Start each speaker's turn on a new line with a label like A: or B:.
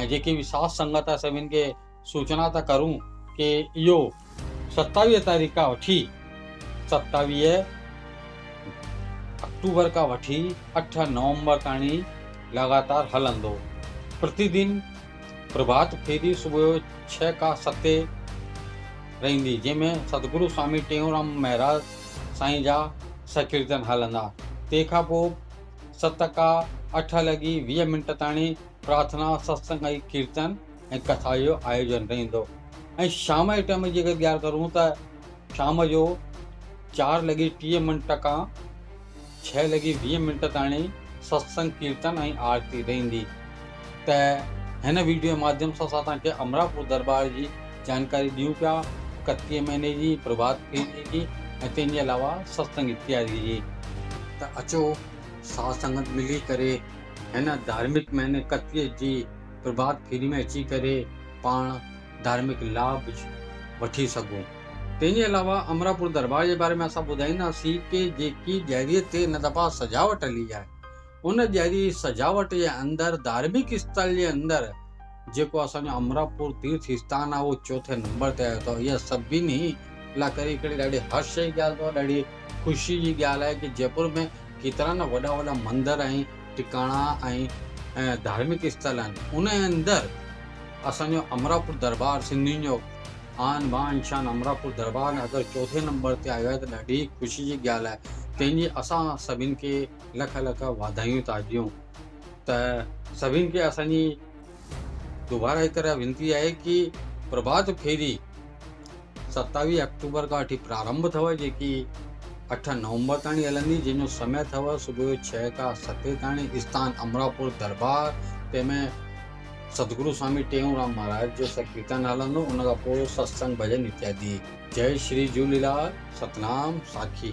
A: ۽ جيڪي به ساٿ سنگت آهي سڀن کي سوچنا ٿا ڪرون ڪي اهو ستاويهه تاريخ کان وٺي ستاويهه اڪٽوبر کان وٺي اٺ نومبر تائين لڳاتار هلندو پرتي دن پرڀات ڦيري صبح جو ڇهه کا ستي رهندي جنهن ۾ ستگرو سوامي ٽيئونرام مهراج سائين جا سڪيرتن هلندا تنهن کان پوء ست کا اٺ لڳي ويهه منٽ تائين پرارٿنا، ستسنگ ۽ ڪيرتن ۽ ڪٿا جو آيوجن رهندو ۽ شام جي ٽائيم جي اگر ڳالهه ڪرون ته شام جو چار لڳي ٽيهه منٽ کان ڇهه لڳي ويهه منٽ تائڻي ستسنگ ڪيرتن ۽ آرتي رهندي ته هن ويڊيو ماڌيم سان اسان توهان کي امراپور دربار جي جانڪاري ڏيون پيا اڪتيهه مهيني جي پرڀات ڦيري جي ۽ تنهن جي علاوه ستسنگ جي تياري جي ته اچو ساڌ سنگت ملي ڪري هن ڌارمڪ مهني ڪتيء جي پرڀات ڦيري ۾ اچي ڪري پاڻ ڌارمڪ لاڀ وٺي سگهون. تنهن جي علاوه امراپور درٻار جي باري ۾ اسان ٻڌائينداسين ڪي جيڪي ڄيريء تي هن دفعا سجاوٽ هلي آهي. ان ڄيري سجاوٽ جي اندر ڌارمڪ اسٿل جي اندر جيڪو اسان جو امراپور تيرٿ استان آهي اهو چوٿين نمبر تي آيو اٿو اها سڀني لا ڪري هڪڙي ڏاڍي هرش جي ڳالهه اٿو ڏاڍي خوشي جي ڳالهه آهي ڪي جئپور ۾ ڪيترا نه وڏا وڏا مندر ۽ ٽڪاڻا ۽ ڌارمڪ استل آهن ان جي اندر اسان جو امراپور دربار سنڌين جو آن بان شان امراپور دربار اگر چوٿين نمبر تي آيو آهي ته ڏاڍي خوشي جي ڳالهه آهي تنهن جي اسان سڀني کي لک لک واڌايون ٿا ڏيون ته سڀني کي اسان جي دوباره هڪ رهي وينتي آهي ڪي پرڀات ڦيري ستاويهه آڪٽوبر کان وٺي پرارمڀ اٿو جيڪي اٺ نومبر تاڻي هلندي جنهن جو سمي اٿو صبح جو ڇهه کان ستي تاڻي استان امراپور دربار تنهن ۾ سدگرو سوامي ٽيئون رام مهاراج جو سڪيرتن هلندو ان کان پوء ستسنگ ڀڄن اتيادي جئي شري جهوليلال ستنام ساکي